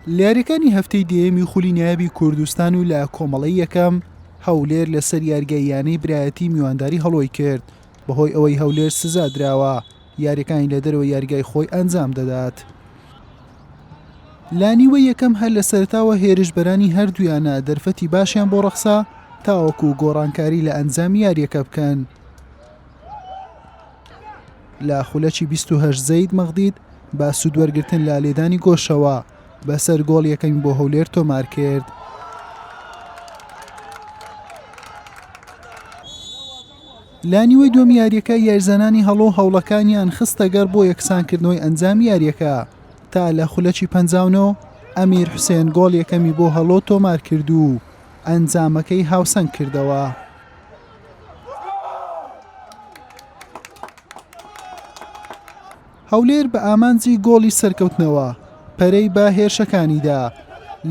لە یاریەکانی هەفتەی دەیەمی خولی نایابی کوردستان و لە کۆمەڵی یەکەم هەولێر لەسەر یارگەییانەی برایەتی میوانداری هەڵۆی کرد بەهۆی ئەوەی هەولێر سزا دراوە یاریەکانی لە دەرەوە یارگای خۆی ئەنجام دەدات. لانیوە یەکەم هەر لە سەرتاوە هێرشبەرانی هەردوویانە دەرفەتی باشیان بۆ ڕەخسا تاوەکو گۆڕانکاری لە ئەنجام یاریەکە بکەن. لە خولەکی 28 زەید مەغدید بە سوودوەرگتن لە لێدانی گۆشەوە بەسەر گۆڵ یەکەمی بۆ هەولێر تۆمار کرد. لا نیوەی دوم یاریەکە یاریزانانی هەڵۆ هەوڵەکانیان خستەگەڕ بۆ یەکسانکردنەوەی ئەنجام یاریەکە تا لە خولەکی پەنجاونەوە ئەمیر حوسێن گۆڵ یەکەمی بۆ هەڵۆ تۆمار کرد و ئەنجامەکەی هاوسەنگ کردەوە. هەولێر بە ئامانجی گۆڵی سەرکەوتنەوە پەرەی بە هێرشەکانیدا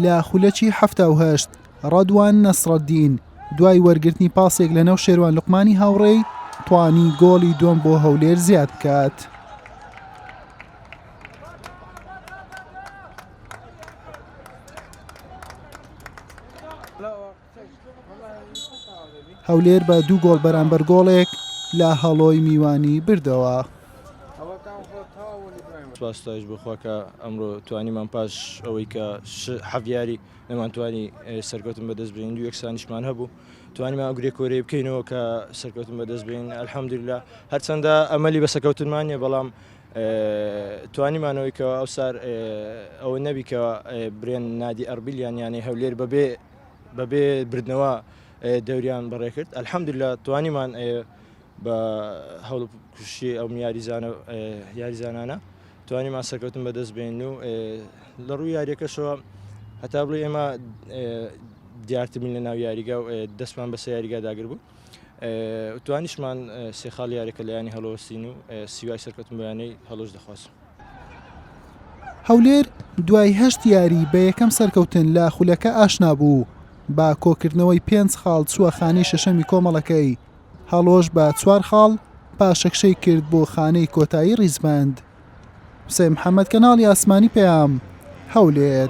لە خولەکی هەفتا و هەشت ڕەدوان نەسڕەدین دوای وەرگرتنی پاسێک لە نەو شێوان لقمانی هاوڕێی توانی گۆڵی دوم بۆ هەولێر زیاد بکات. Hello. هەولێر بە دوو گۆڵ بەرامبەر گۆڵێک لە هەڵۆی میوانی بردەوە. سپاستایش بخواکە ئەمڕۆ توانیمان پاش ئەوەی کە حەڤیاری نەمانتوانی سەرکەوتن بەدەست بین دو یەکسانیشمان هەبوو توانیمان ئەگرێ کۆرەی بکەینەوە کە سەرکەوتن بەدەست بین ئەلحەمدللا هەرچەندە ئەمەلی بە سەکەوتنمانە بەڵام توانیمانەوەی کە ئەو سار ئەوە نەبی کە برێن نادی ئەربیلیان یانەی هەولێر بەبێ بەبێ بردنەوە دەوریان بەڕێ کرد ئەلحەمدللا توانیمان بە هەڵ کوشی ئەو یاریزانە یاریزانانە توانیمان سەرکەوتن بەدەست بێن و لە ڕووی یاریەکەشەوە هەتا بڵێ ئێمە دیارترین لە ناو یاریگە و دەستمان بەسە یاریگا داگر بوو توانیشمان سێ خاڵ یاریەکە لایانی هەڵۆستین و سیوای سەرکەتم بەیانەی هەڵۆش دەخوازم. هەولێر دوای هەشت یاری بە یەکەم سەرکەوتن لە خولەکە ئاشنا بوو بە کۆکردنەوەی پێنج خاڵ چووە خانەی شەشەمی کۆمەڵەکەی هەڵۆش بە چوار خاڵ پاشەکشەی کرد بۆ خانەی کۆتایی ڕیزبەند حسێ محەممەد کەناڵی ئاسمانی پەیام هەولێر